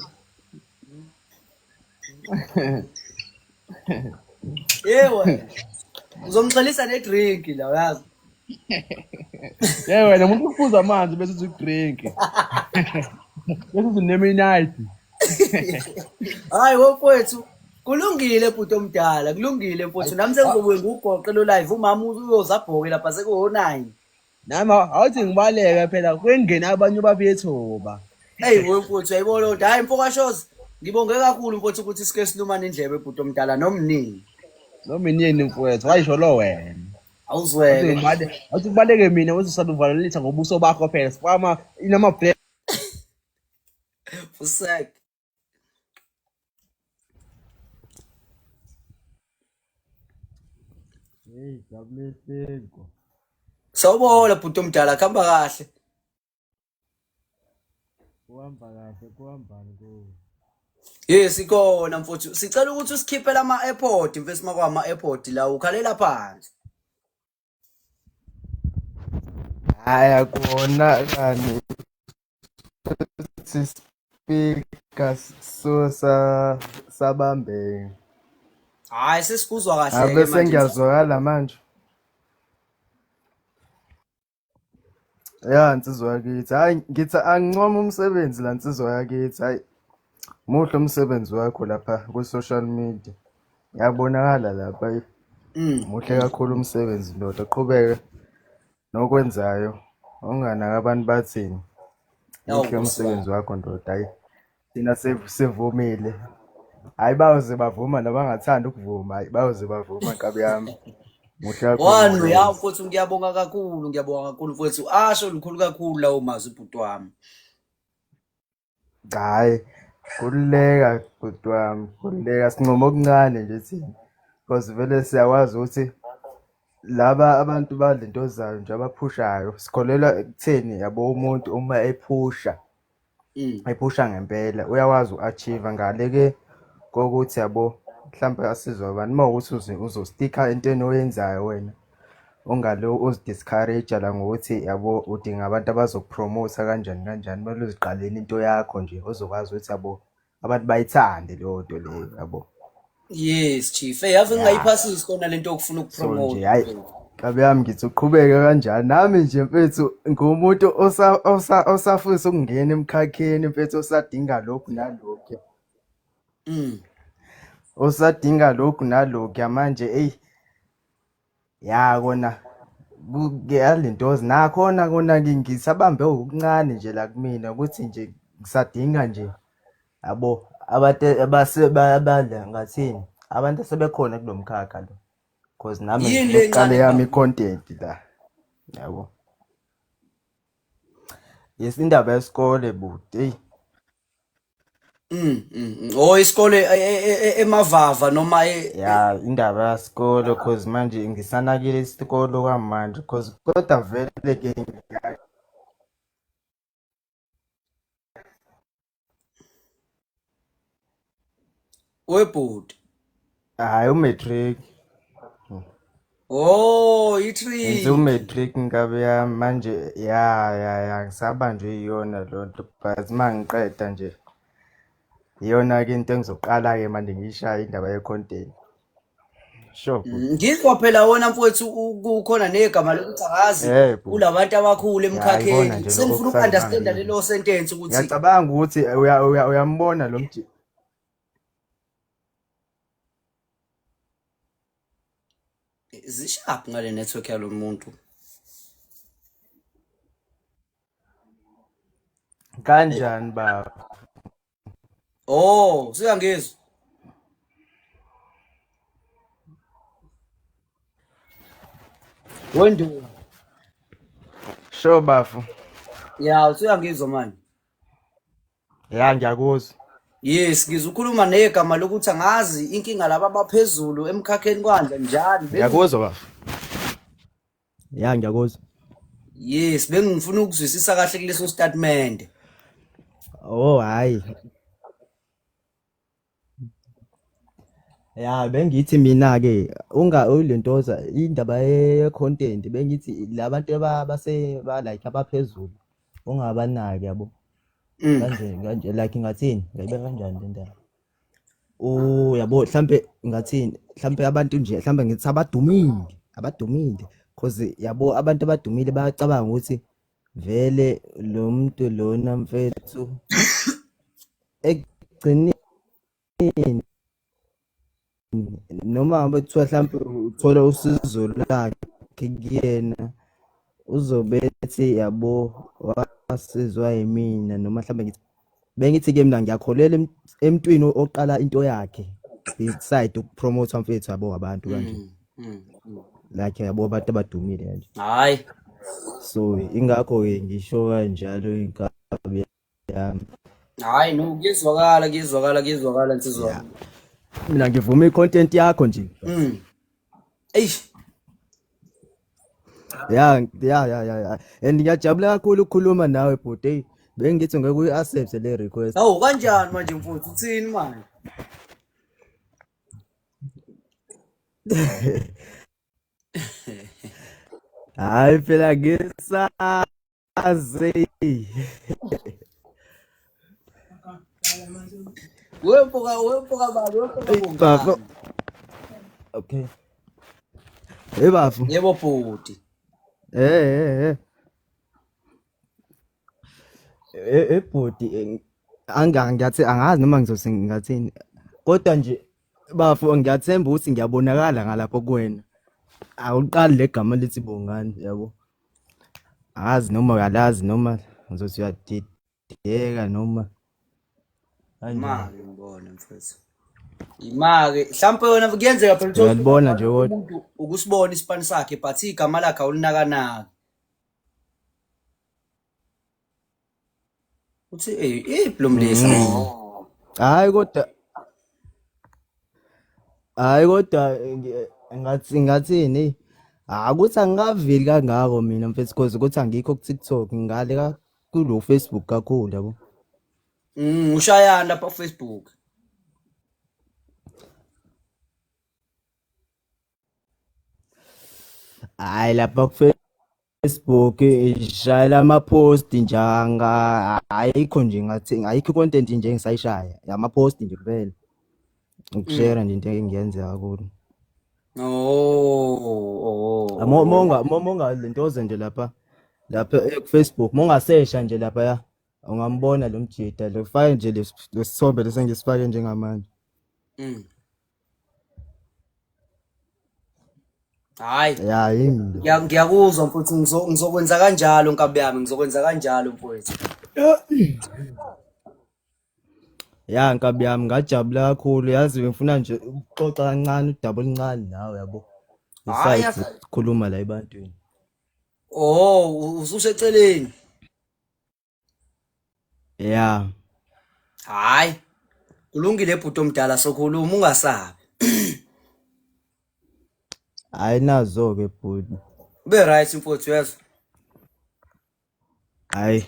Yewe. Uzomxelisa ne drink la uyazi. Yewe wena umuntu ufuza amanzi bese uthi drink. Bese uthi name night. Hayi wokwethu kulungile bhuti omdala kulungile mfowethu nami sengizobuye ngugoqe lo live umama uyozabhoke lapha sekuho 9. Nami awuthi ngibaleke phela kwengena abanye babethoba. Hey wemfuthu yayibona kodwa hayi mfoka shows ngibonge kakhulu mfuthu ukuthi sike silumane indlebe bhuti omdala nomnini. Nomnini mfowethu wayisho lo wena. Awuzweke. Awuthi kubaleke mina uthi saluvalelisa ngobuso bakho phela. Sifama inama black. Fusek. Hey, WSenko. Sawubona bhuti omdala kuhamba kahle. Kuhamba kahle, kuhambani kuwe? Yes, ikona mfuthu. Sicela ukuthi usikhiphele ama-airport mfethu makwama airport la ukhalela phansi. Haya kona kani sisipika so sa sabambeke. Hayi sesikuzwa kahle ke Abe manje. sengiyazwakala manje. Ya nsizwa yakithi. Hayi ngithi angincoma umsebenzi la nsizwa yakithi. Hayi muhle umsebenzi wakho lapha ku social media. Yabonakala lapha ayi. Mm. Muhle kakhulu umsebenzi ndoda qhubeke nokwenzayo. Unganaka abantu bathini. Awu, Muhle Nkosi umsebenzi wakho ndoda ayi. Thina sev- sivumile. Hayi bayoze bavuma nabangathanda ukuvuma hayi bayoze bavuma nkabi yami. Muhle kakhulu One umsebenzi. uyawu mfowethu ngiyabonga kakhulu ngiyabonga kakhulu mfowethu asho lukhulu kakhulu lawo mazwi bhuti wami. Cha hhayi, khululeka bhuti wami, khululeka sincoma okuncane nje thina. Because vele siyakwazi ukuthi laba abantu badla into zayo nje abaphushayo. Sikholelwa ekutheni yabo umuntu uma ephusha, Mm. ephusha ngempela uyakwazi uku-achieve ngale ke kokuthi yabo mhlampe asizwe abantu uma ukuthi uze uzostikha entweni oyenzayo wena. ungalo uzi-discourage-a la ngokuthi yabo udinga abantu abazokupromotha kanjani kanjani, kumele uziqalele into yakho nje ozokwazi ukuthi yabo abantu bayithande leyo nto leyo yabo. Yes chief, hey yazi ngingayiphasisi kona lento yokufuna So nje ukupromotha. hayi Nkabi yami ngithi uqhubeke kanjani nami nje mfethu ngumuntu osa osa osafisa ukungena emkhakheni mfethu osadinga lokhu nalokhu Mm. osadinga lokhu nalokhu manje eyi ya kona kuyalentozi nakhona kona ngisabambe okuncane nje la kumina ukuthi nje ngisadinga nje yabo abantu abasebala ngathini abantu asebekhona kulo mkhakha lo because nami ngiqale yami i-content la yabo yes indaba yesikole buti Mm, mm, mm. Oh isikole e- e- e- e- emavava noma e- e- ya indaba yasikolo cause manje ngisanakile isikolo kwamanje cause kodwa vele ke webhuti hayi umatric oh itrick umatric nkabi yami manje ya ya ya ngisabanjwe iyona lo nto but uma ngiqeda nje iyona-ke into engizoqala-ke manje ngiyishaye indaba ye-content sure mm, ngizwa phela wona mfowethu kukhona negama lokuthi akazi kulabantu abakhulu emkhakheni sengifuna uku-understanda lelo sentence ukuthi ngiyacabanga ukuthi uyambona lo mjini zishaphi ngale network yalo muntu kanjani baba oh siyangizwa wendu sho bafo ya usuyangizwa manje ya ngiyakuzwa yes ngizukhuluma negama lokuthi angazi inkinga laba abaphezulu emkhakheni kwanje njani Bengi- ngiyakuzwa bafo ya ngiyakuzwa yes bengifuna ukuzwisisa kahle kuleso statimende oh hhayi Ya bengithi mina-ke unga ulentoza indaba ye-content bengithi la bantu aba- base ba like abaphezulu ungabanaki yabo Mm. kanje kanje like ngathini ngayibe kanjani le ndaba u yabo mhlampe ngathini mhlampe abantu nje mhlampe ngithi abadumile abadumile cause yabo abantu abadumile bayacabanga ukuthi Vele lo muntu lona mfethu ekugcineni noma ngabe kuthiwa hlampe uthola usizo lakhe kuyena uzobe ethi yabo wasizwa yimina noma hlampe ngithi bengithi ke mina ngiyakholela emntwini oqala into yakhe beside ukupromote mfethu yabo abantu kanje mm, mm, mm. like yabo abantu abadumile kanje hayi so ingakho ke ngisho kanjalo inkabi yami hayi no kuyezwakala kuyezwakala kuyezwakala nsizwa mina ngivuma i-content yakho nje Eish. ya ya ya ya ya and ngiyajabula kakhulu ukukhuluma nawe bhuti eyi bengithi ngeke uyi-accepte le request Hawu kanjani manje mfowethu uthini manje? hhayi phela ngisaba aze wempoka wempoka baba wempoka baba okay hey bafu yebo bhuti eh eh eh eh bhuti anga ngiyathi angazi noma ngizose ngathini kodwa nje bafo ngiyathemba ukuthi ngiyabonakala ngalapho kuwena awuqali legama lithi bongani yabo Angazi noma uyalazi noma ngizothi uyadideka noma imali ngibona mfethu imali mhlawumpe yona kuyenzeka phela uyalibona nje kodwa umuntu ukusibona isipani sakhe but igama lakhe awulinakanaki Uthi eh iphi lo mlisa? Mm. Hayi kodwa Hayi kodwa ngi- ngathi ngathini? Hayi ukuthi angikaveli kangako mina mfethu cause ukuthi angikho ku-TikTok ngale ka kulo Facebook kakhulu yabo. Mm, ushayani lapha ku Facebook? Hayi lapha ku Facebook ishayela ama-post njanga ayikho nje ngathi ayikho i-content nje engisayishaya ama-post nje kuphela ukushera mm. nje into engiyenzeka kulo oh, oh, oh. monga monga lento ozenje lapha lapha eh, ku-Facebook mongasesha nje lapha ya ungambona lo mjita lo fake nje lesithombe lesengisifake njengamanje mm. Hayi. Ya yini? Ngiya- Ngiyakuzwa mfowethu ngizo- ngizokwenza kanjalo nkabi yami ngizokwenza kanjalo mfowethu. Ya nkabi yami ngajabula kakhulu yazi bengifuna nje ukuxoxa kancane udaba oluncane nawe yabo. Hayi, Besides yas- ukukhuluma la ebantwini. Oh, u- ususeceleni. ya hayi kulungile bhuti omdala sokhuluma ungasabi hayi nazo ke bhuti ube right mfowethu yezwa hayi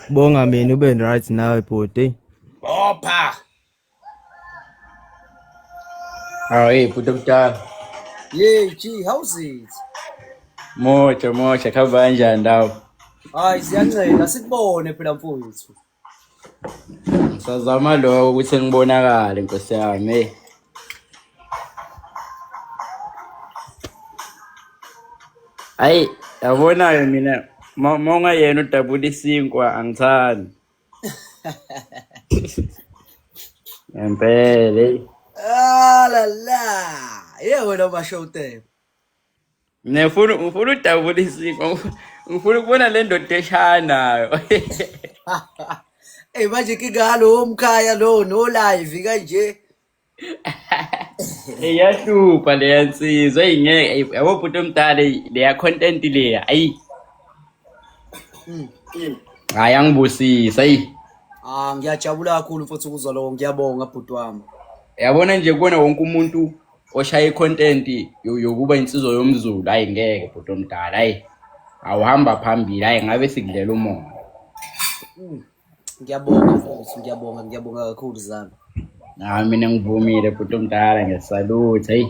bonga mina ube right nawe bhuti bopha Aw, hey, bhuti omdala. Yey, gee, how's it? Moja, moja, khamba kanjani ndawo? Hayi, siyancela sikubone phela mfowethu. Sazama lokho ukuthi ngibonakale nkosi yami. Hey. Hayi, yabona-ke mina uma uma ungayena udabula isinkwa angithandi. ngempela eyi Ah la la. Yeah, wena basho utebe. mina ngifuna ngifuna udabula isiko ngif- ngifuna ukubona le ndoda eshaya nayo Eh manje kingalo omkhaya lo no live kanje. iyahlupha leya nsizwa eyi ngeke eyi, yabo bhuti omdala eyi, leya content leya ayi hayi angibusisa eyi Ah ngiyajabula kakhulu mfowethu ukuzwa lokho ngiyabonga bhuti wami. yabona nje kubona wonke umuntu oshaya i-content yo- yokuba insizwa yomzulu ayi ngeke bhuti omdala ayi awuhamba phambili ayi ngabe sikudlela umoya Ngiyabonga mfowethu, ngiyabonga, ngiyabonga kakhulu zami. Hayi mina ngivumile bhuti omdala ngiyasalutha. Hey.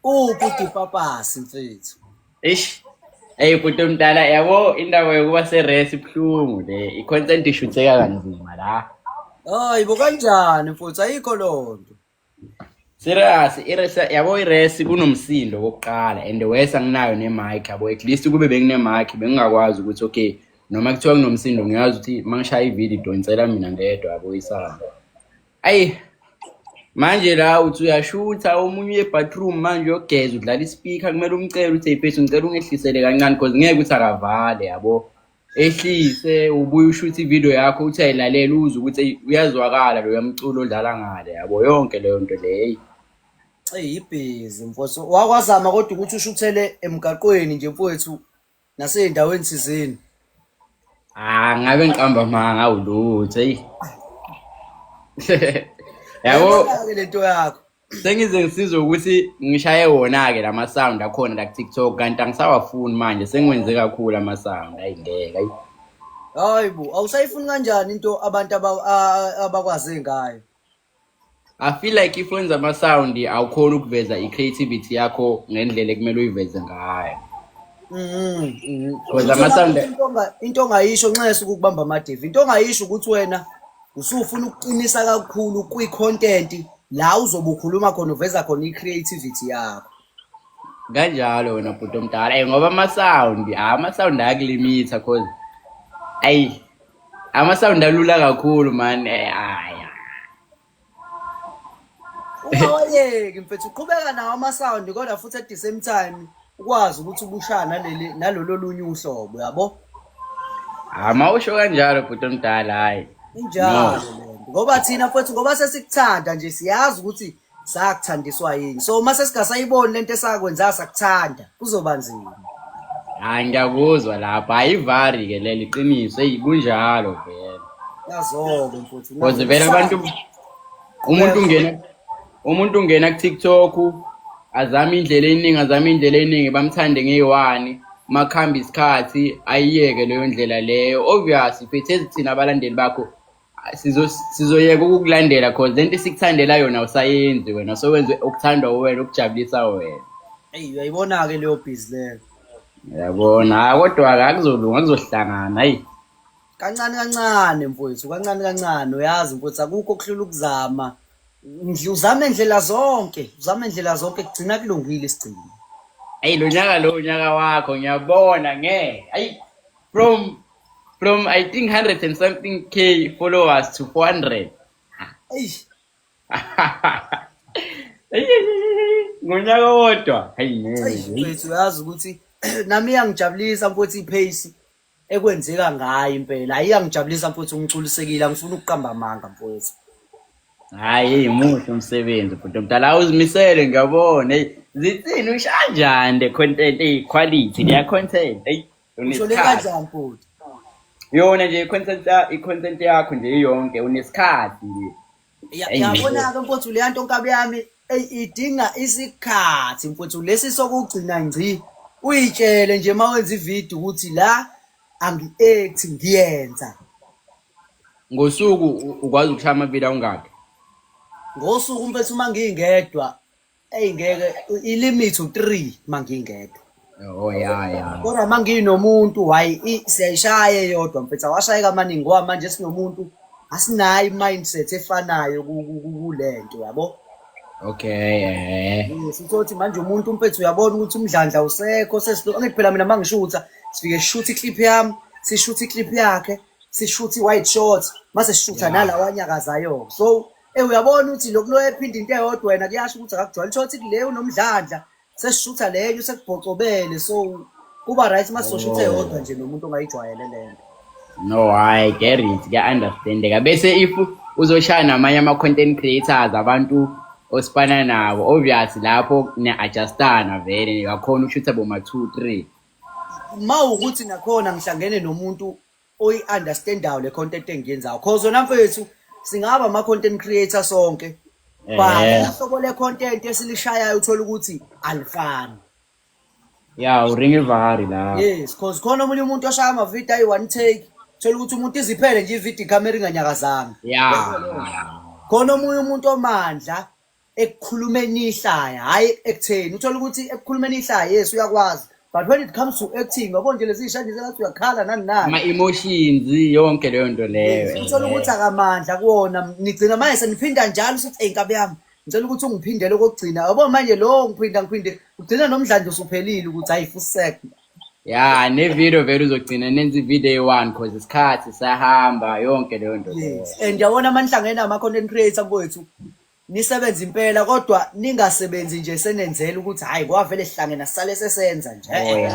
Uphi udipapasi mfethu? Eish. Hey bhuti omdala yabo indawo yokuba seresi ibuhlungu le. I-consent ishutheka kanzima la. Hayi bo kanjani mfowethu ayikho loo nto. Serious, iresa yabo iresi kunomsindo kokuqala and worse anginayo nemic yabo at least kube benginemic bengingakwazi ukuthi okay noma kuthiwa kunomsindo ngiyazi ukuthi mangishaya ivideo idonsela mina ngedwa yabo isamba. Ayi manje la uthi uyashutha omunye uye bathroom manje uyogeza udlala ispeaker kumele umcele uthi hey mfethu ngicela ungehlisele kancane because ngeke ukuthi akavale yabo. ehlise ubuye ushuthe ivideo yakho uthi ayilalele uze ukuthi eyi, uyazwakala loya mculo odlala ngale yabo yonke leyo nto leyi eyi ibhizi mfowethu wakwazama kodwa ukuthi ushuthele emgaqweni nje mfowethu nasey'ndaweni thizeni ah ngabe ngiqamba manga awulutho eyi yabo Yabona-ke le nto yakho sengize ngisizwe ukuthi ngishaye wona-ke la masound akhona la kutiktok kanti angisawafuni manje sengiwenze kakhulu amasound ayi ngeke ayi hayi bo awusayifuni kanjani into abantu aba- a- abakwaze ngayo i feel like if wenza amasound awukhona ukuveza i-creativity yakho ngendlela ekumele uyiveze ngayo Mhm, mhm. Wenza Uthole amasound- ukuthi into onga- into ongayisho nxese ukukubamba amadevi into ongayisho ukuthi wena usufuna ukuqinisa kakhulu kwi-content la uzobe ukhuluma khona uveza khona i-creativity yakho kanjalo wena bhuti omdala ey ngoba ama-sound hhayi ama-sound ayakulimitha cause ayi ama-sound alula kakhulu mani hayi ungawayeki mfethu uqhubeka nawo ama-sound kodwa futhi at the same time ukwazi ukuthi ubushaya naleli nalolo lunye uhlobo yabo hayi mawusho kanjalo bhuti omdala hayi injalo lento ngoba thina futhi ngoba sesikuthanda nje siyazi ukuthi sakuthandiswa yini so uma sesingasayiboni lento esakwenza sakuthanda kuzoba nzima hayi ngiyakuzwa lapho hayi ivari ke leli qiniso eyi kunjalo vele yazobe mfuthu Because vele abantu umuntu ungena umuntu ungena ku-tiktok azame indlela eningi azame indlela eningi bamthande ngeyi-one makuhamba isikhathi ayiyeke leyo ndlela leyo obvious phethezi thina abalandeli bakho sizoyeka ukukulandela cause le nto esikuthandela yona usayenzi wena sowenze okuthandwa wena okujabulisa wena eyi uyayibona-ke leyo bhizi leyo yabona hayi kodwa-ke akuzolunga kuzohlangana hayi kancane kancane mfowethu kancane kancane uyazi mfowethu akukho okuhlula ukuzama uzame ndlela zonke uzame ndlela zonke kugcina kulungile isigcino ayi lo nyaka lo unyaka wakho ngiyabona nge ayi from from i think 100 and something k followers to 400 ayi ngonyaka wodwa hayi ngeke uyazi ukuthi nami iyangijabulisa mfowethu ipace ekwenzeka ngayo impela hayi angijabulisa mfowethu ungiculisekile angifuni ukuqamba amanga mfowethu hayi muhle umsebenzi bhuti omdala awuzimisele ngiyabona eyi zithini ushanjani the content eyi quality leya content eyi ushole kanjani futhi yona nje i-content ya- i-content yakho nje iyonke unesikhathi nje yabona-ke mfowethu leya nto nkabi yami eyi idinga isikhathi mfowethu lesi sokugcina ngci uyitshele nje uma wenza ividiyo ukuthi la angi-act ngiyenza ngosuku ukwazi ukushaya amavila ungakhi ngosuku mfethu uma ngingedwa eyi ngeke ilimit u-three uma ngingedwa Oh ya ya. Kodwa uma nginomuntu hayi i- siyayishaya eyodwa mfethu awashayeka amaningi ngoba manje sinomuntu asinayo i-mindset efanayo ku- ku- ku- kule nto yabo Okay eh. Yes, uthothi manje umuntu umpethu uyabona ukuthi umdlandla usekho sesilo angithi phela mina mangishutha sifike sishutha iclip yami sishutha iclip yakhe sishutha i-white short mase sishutha Yeah. nalawa anyakazayo so Eh uyabona ukuthi lokhu lo ephinda into eyodwa wena kuyasho ukuthi akakujwayele uthola ukuthi kule unomdlandla sesishutha leyo sekubhocobele so kuba right masosha uthe yodwa nje nomuntu ongayijwayele lento no hayi get it kuya-understandeka bese if uzoshaya namanye ama-content creators abantu osifana nabo obvious lapho ne-adjustana vele yakhona ushutha boma-two three ma ukuthi nakhona ngihlangene nomuntu oyi understandayo le content engiyenzayo cause wena mfethu singaba ama content creator sonke but uhlobo le content esilishayayo uthola ukuthi alifani ya uringa ivari la yes cause khona omunye umuntu oshaya ama video ayi one take thola ukuthi umuntu iziphele nje ivideo camera inganyakazanga ya khona omunye umuntu omandla ekukhulumeni ihlaya hhayi ekutheni uthole ukuthi ekukhulumeni ihlaya yes uyakwazi but when it comes to acting yabo nje lezi shadi sengathi uyakhala nani nani ama emotions yonke leyo nto leyo uthole ukuthi akamandla kuwona nigcina manje seniphinda njalo sithi hey nkabi yami ngicela ukuthi ungiphindele okokugcina yabo manje lo ngiphinda ngiphinde ugcina nomdlandla usuphelile ukuthi ayifusek ya nevideo vele uzogcina nenza ivideo eyi-one cause isikhathi sahamba yonke leyo nto leyo Yes. And yabona amanhlanga ena ama content creator kwethu nisebenza impela kodwa ningasebenzi nje senenzela ukuthi hayi kwavele sihlangena sisale sesenza nje. Oh, ya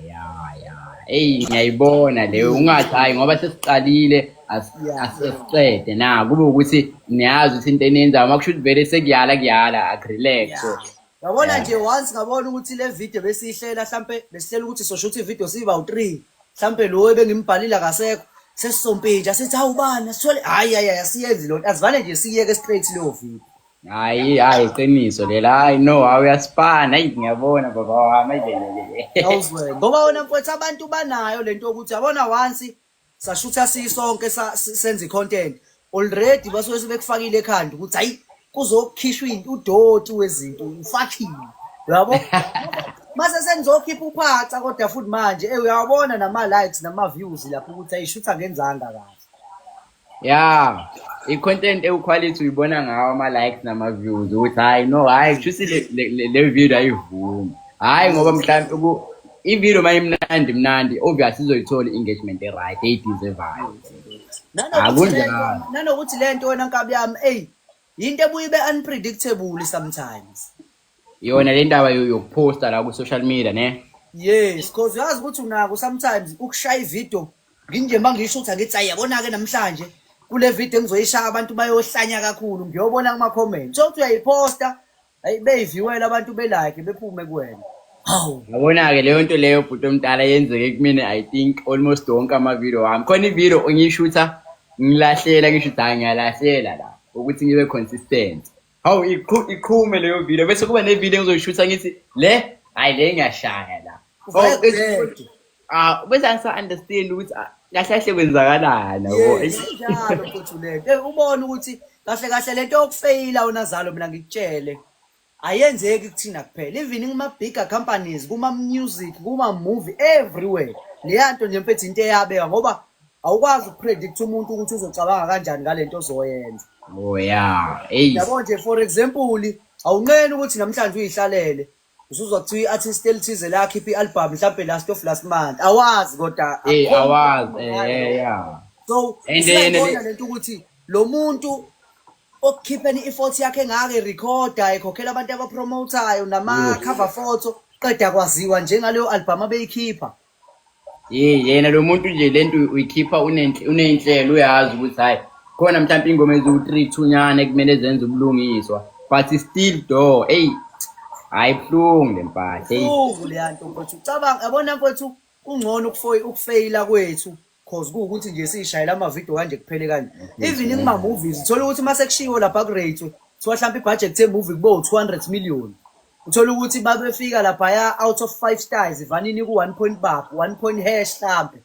ya ya eyi ngiyayibona leyo ungathi hhayi ngoba sesiqalile as- Yeah. as- asiqede na kube ukuthi niyazi ukuthi into eniyenzayo uma kusho ukuthi vele sekuyala kuyala akurelax so Yeah. Yabona nje once ngabona ukuthi le video besiyihlela mhlampe besihlela ukuthi sosho ukuthi video siba u3. Mhlampe lo ebengimbhalile akasekho. Sesisompintsha sithi awubani sithole hayi hayi asiyenzi lo. Asivane nje siyeke straight leyo video. Hayi hayi iqiniso lela hayi no hawu uyasipana hayi ngiyabona baba wami ayibelele. Awuzwe. Ngoba wena mfowethu abantu banayo lento ukuthi yabona once sashutha sisonke senza icontent already basuke sebekufakile ekhanda ukuthi hayi kuzokhishwa udoti wezinto ufakhile yabo mase sengizokhipha uphaca kodwa futhi manje eh uyawabona nama likes nama views lapho ukuthi ayishutha ngenzanga kahle yeah i content ewu quality uyibona ngawo ama likes nama views ukuthi hayi no hayi kushuthi le video ayivumi hayi ngoba mhlawumbe uku ivideo uma imnandi mnandi obvious izoyithola i-engagement e-right eyideservayo akunjalo nanokuthi le nto wena nkabi yami eyi yinto ebuye ibe unpredictable sometimes yona le ndaba yo- yokuphosta la ku-social media ne yes cause uyazi ukuthi unako sometimes ukushaya ivideo nginje ma ngisho ukuthi angithi ayi yabona-ke namhlanje kule video engizoyishaya abantu bayohlanya kakhulu ngiyobona kuma-comment so kuthi uyayiposta Hayi beyiviwela abantu belike bephume kuwena. Hawu. Yabona-ke leyo nto leyo bhuti omdala yenzeke kumina i think almost wonke amavidiyo wami khona ividiyo ngiyishutha ngilahlela ngisho ukuthi hhayi ngiyalahlela la ukuthi ngibe consistent hawu iqhu- iqhume leyo vidiyo bese kuba nevidiyo engizoyishutha ngithi le hhayi le ngiyashaya la Ufake Hawu, bese- ubheke. Ah, bese angisa understand ukuthi ah, kahle kahle kwenzakalani yabo. Yes, Eish. injalo mfowethu lento Eh, ubone ukuthi kahle kahle lento yokufeyila unazalo mina ngikutshele ayenzeki kuthina kuphela even kuma-bigger companies kuma-music kuma-movie everywhere leya nto nje mfethu into eyabeka ngoba awukwazi ukupredict umuntu ukuthi uzocabanga kanjani ngale nto ozoyenza Oh yeah. Eish. yabo nje for example awunqeni ukuthi namhlanje uyihlalele usuzwa kuthiwa i-artist elithize lakhipha i-album mhlawumbe last of last month awazi kodwa Eh, akukho awazi, umuntu eh, ongayo. eh, yeah. so And then- siyayibona lento ukuthi lo muntu okukhipheni ifoti yakhe engaka erekhoda ekhokhela abantu abapromotayo nama-cover photo qeda kwaziwa njengaleyo albhamu abeyikhipha Hey yena lo muntu nje lento uyikhipha unenhle- uney'nhlelo uyazi ukuthi hhayi khona mhlawumpe iy'ngoma eziwu-three thunyana ekumele zenze ubulungiswa but still do eyi hhayi buhlungu le mpahla eyi Uvu leyanto mfowethu. Cabanga yabona mfowethu kungcono ukufo- ukufeyila kwethu cause kuwukuthi nje siyishayela amavidiyo kanje kuphele kanje even kuma-movies uthola ukuthi uma sekushiwo lapha kurate kuthiwa mhlawumpe ibhajethi yemuvi kube u-two hundred million uthola ukuthi babefika laphaya out of five stars ivanini ku-one point bab one point hash mhlawumpe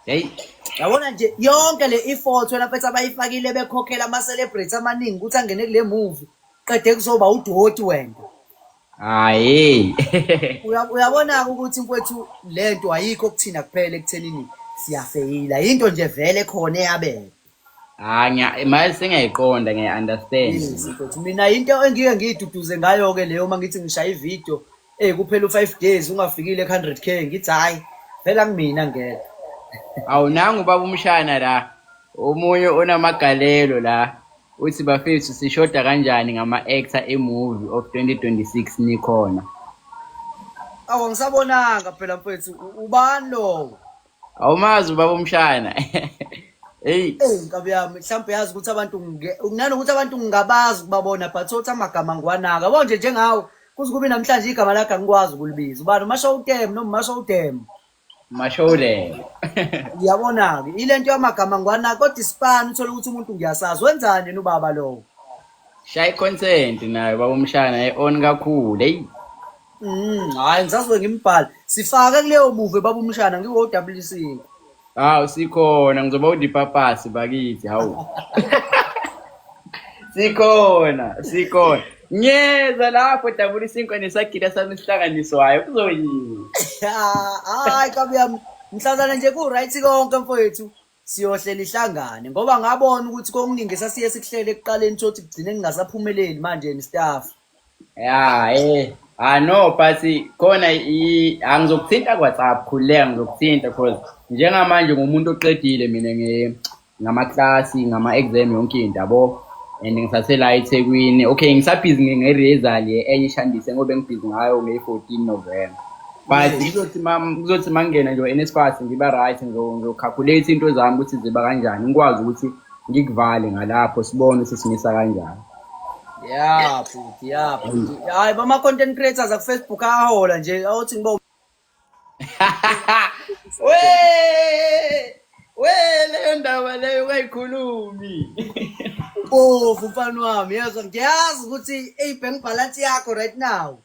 heyi yabona nje yonke le ifoto elafethi abayifakile bekhokhela ama-celebrate amaningi ukuthi angene kule muvi qede kuzoba udoti wena Hayi. Uya- uyabona-ke ukuthi mfowethu le nto ayikho kuthina kuphela ekuthenini siyafeyila yinto nje vele khona eyabela Hayi ngiya manje sengiyayiqonda ngiya understand. Yes, mfowethu. mina into engike ngiyiduduze ngayo-ke leyo uma ngithi ngishaya ividiyo eyi kuphela u-five days ungafikile ku-hundred k ngithi hhayi phela kumina ngeke Awunanga ubaba umshana la. Omunye onamagalelo la. uthi bafethu sishoda kanjani ngama-actor emovie of 2026 nikhona awu ngisabonanga phela mfethu ubani lowo awumazi ubaba umshana eyi eyi nkabi yami mhlawumbe yazi ukuthi abantu nanokuthi abantu ngingabazi ukubabona but othi amagama ngiwanaka yabo nje njengawo kuze kube namhlanje igama lakhe angikwazi ukulibiza ubani umasho udem noma umasho udem Mashowulelo. Uyabona-ke ile nto yamagama ngwana kodwa isipani uthole ukuthi umuntu ngiyasazi wenzani yena ubaba lowo. Shaya i-consent nayo baba umshana e-on kakhulu. Eyi. Mm, hayi ngisazobe ngimbhala. Sifake kuleyo muve baba umshana ngiwo-WC. Hawu sikhona ngizoba udipapasi bakithi hawu. Sikhona, sikhona. Ngiyeza lapho dabula isinkwa nesagila sami sihlanganiswayo kuzoyini. Ah, Hayi kabi yami mhlazana nje ku right konke mfowethu siyohlela ihlangane ngoba ngabona ukuthi kokuningi sasiye sikuhlele ekuqaleni thothi kugcine ningasaphumeleli manje ni staff. Ya eh ah no but khona i- angizokuthinta kwaTsap khuleka ngizokuthinta cause njengamanje ngumuntu oqedile mina nge ngamaklasi ngama-exam yonke into yabo and ngisasela ethekwini okay ngisabhizi nge-resal enye ishandise ngoba engibhizi ngayo ngeyi-fourteen november but kuzothi kuzothi mangingena nje enespas ngiba right ngizocalculate into zami ukuthi ziba kanjani ngikwazi ukuthi ngikuvale ngalapho sibone ukuthi simisa kanjani ya futhi ya futhi hayi bama-content creators akufacebook ahola nje awuthi ngiba we we leyo ndaba leyo ungayikhulumi bovu mfana wami yezwa ngiyazi ukuthi eyi bank balance yakho right now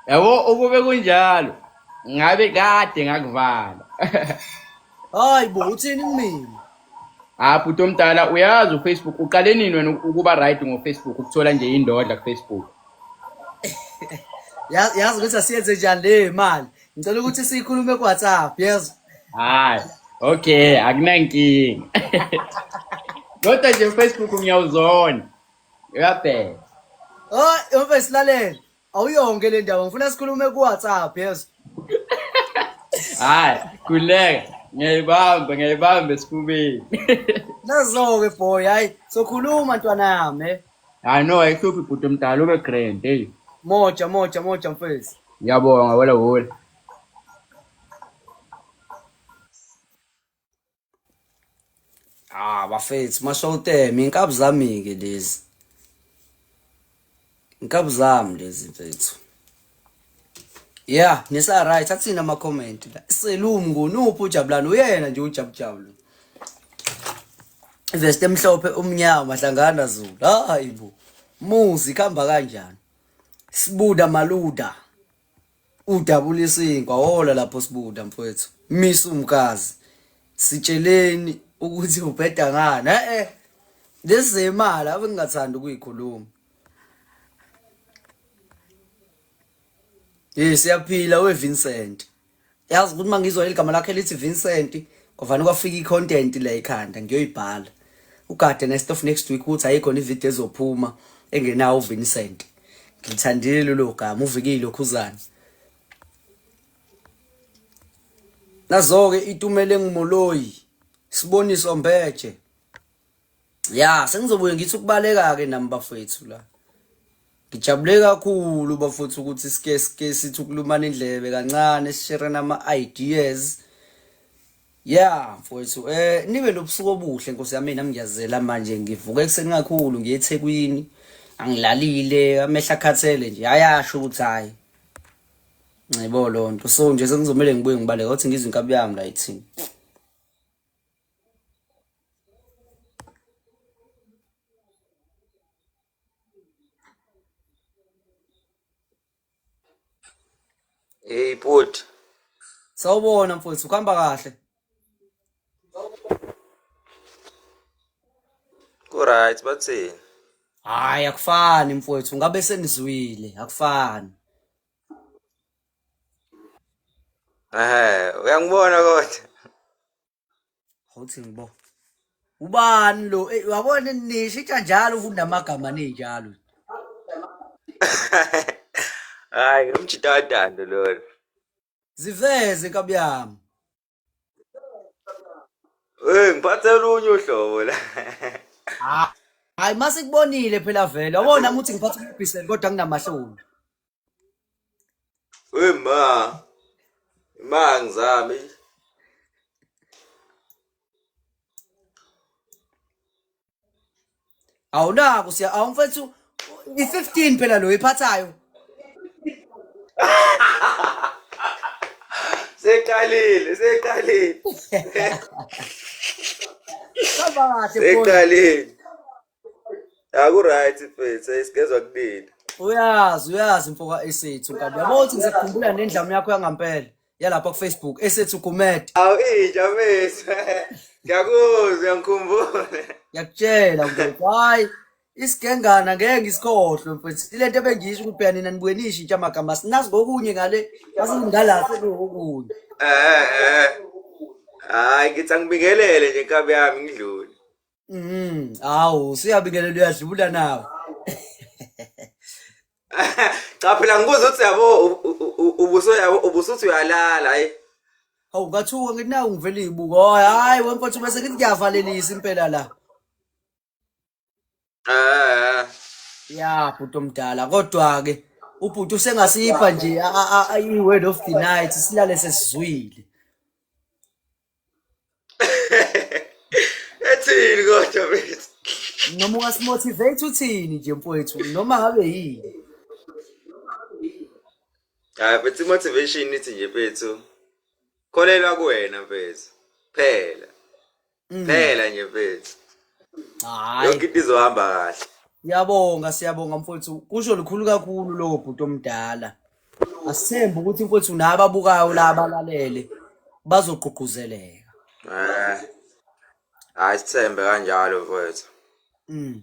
yabo ukube kunjalo ngabe kade ngakuvala hayi bo uthini kumina Ah bhuti omdala uyazi uFacebook uqale nini wena ukuba right ngoFacebook ukuthola nje indodla kuFacebook. Yazi yazi ukuthi asiyenze njani le mali. Ngicela ukuthi siyikhulume ku WhatsApp yazi. Hayi. Okay, akunankinga. Kodwa nje uFacebook ngiyawuzona. Uyabheka. Oh, yombe silalele. Awuyonke le ndaba ngifuna sikhulume ku WhatsApp yezwa. Hayi, kuleka. Ngiyayibamba, ngiyayibamba esifubeni. Nazoke boy, hayi sokhuluma ntwana yami. eh. Hayi no, ayihluphi bhuti omdala ube grand, hey. Moja moja moja mfethu. Ngiyabonga wela wela. Ah bafethu mashowtem inkabi zami ke lezi. Inkabi zami lezi mfethu. Yeah, nisa right athina ama comment la. Selum ngunuphi ujabulani uyena nje ujabujabulu. Vest emhlophe umnyama mahlangana Zulu. Hayi bo. Muzi khamba kanjani? Sibuda maluda. udabula isinkwa wola lapho sibuda mfowethu misa umkazi sitsheleni ukuthi ubheda ngani eh eh lezemali ave ngingathanda ukuyikhuluma Yes siyaphila we Vincent yazi ukuthi mangizwa igama lakhe lithi Vincent kwavana kwafika icontent la ekhanda ngiyoyibhala ugade nestof next week ukuthi ayikho ivideo ezophuma engenawo Vincent ngithandile lelo gama uvikile ukhuzana nazoke itumele ngimoloyi siboniso mbeje ya sengizobuye ngithi ukubaleka ke nami bafethu la ngijabule kakhulu bafuthu ukuthi sike sike sithi ukulumana indlebe kancane sishere nama ideas Yeah mfowethu eh nibe nobusuku obuhle nkosi yami nami ngiyazela manje ngivuka ekuseni kakhulu ngiye eThekwini angilalile amehla akhathele nje ayasho ukuthi hayi ngibo lonto so nje sengizomele ngibuye ngibaleka ukuthi ngizwe inkabi yami la ithini Hey bhuti. Sawubona mfowethu, kuhamba kahle. Ku right bathini? Hayi akufani mfowethu, ngabe senizwile, akufani. Ehhe, uyangibona kodwa. Awuthi ngibo. Ubani lo? Eh, Wabona nisho itsha njalo ufunda amagama ninjalo. Hayi, umjita wadando lona. Ziveze nkabi yami. Eh, ngiphathe olunye uhlobo la. Ah. Hayi masikubonile phela vele. Wabona ukuthi ngiphatha ubhiseli kodwa nginamahloni. we ma ma ngizame awunako siya awumfethu i-15 phela lo iphathayo seqalile seqalile Hamba kahle bro. seqalile Akuright mfethu, esigezwa kunini. uyazi uyazi mfoka esethu nkabi yabo ukuthi ngisakhumbula nendlamu yakho yangampela yalapha kufacebook esethu gumede Awu inja mfethu. Ngiyakuzwa, ngikhumbule. ngiyakutshela mfethu hayi isigengana ngeke ngisikhohlwe mfethu ilento ebengiyisho ukuthi phela nina nibuye nisho intsha amagama sinazi ngokunye ngale masingalahle ngokunye Eh eh. Hayi ngithi angibingelele nje nkabi yami ngidlule. Mm, awu siyabingelela uyadlula nawe. Cha phela ngibuza ukuthi yabo u- u- u- ubuso yabo ubusuthi uyalala hayi. Awu ngathuka ngithi nawu ngivele ibuka. Oh, hayi wemfowethu bese ngithi ngiyavalelisa impela la. Eh. Ya bhuti omdala kodwa ke ubhuti usengasipha nje a- a- a- i-word of the night silale sesizwile. Ethini kodwa mfethu? Noma ungasimotivate uthini nje mfowethu noma ngabe yini. Hayi mfethu motivation ithi nje mfethu. Kholelwa kuwena mfethu. Phela. Mm. Phela nje mfethu. Hayi. Yonke into izohamba kahle. Siyabonga siyabonga mfowethu. Kusho lukhulu kakhulu lokho bhuti omdala. Asithembe ukuthi mfowethu nababukayo la balalele bazogqugquzeleka. Eh. Hayi sithembe kanjalo mfowethu. Mm.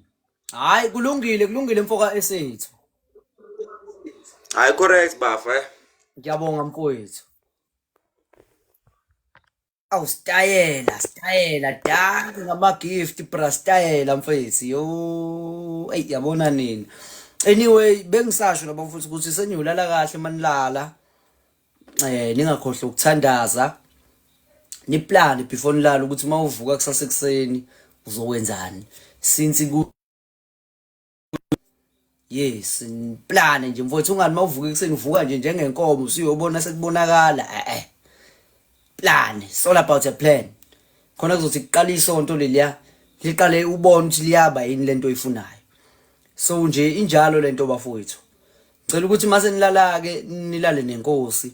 Hayi kulungile kulungile mfoka esethu. Hayi correct bafo eh. Ngiyabonga mfowethu. Awu stayela stayela danke ngama gift bra stayela mfethu yo ey yabona nini anyway bengisasho laba mfuthu ukuthi seniyolala kahle manilala eh ningakhohle ukuthandaza niplane before nilala ukuthi mawuvuka kusasa ekseni uzokwenzani since ku yes ngiplane nje mfowethu ungani mawuvuka ekuseni uvuka nje njengenkomo usuyobona sekubonakala eh eh plan it's all about a plan khona kuzothi kuqala isonto leliya liqale ubone ukuthi liyaba yini lento oyifunayo so nje injalo lento bafowethu ngicela ukuthi mase nilala ke nilale nenkosi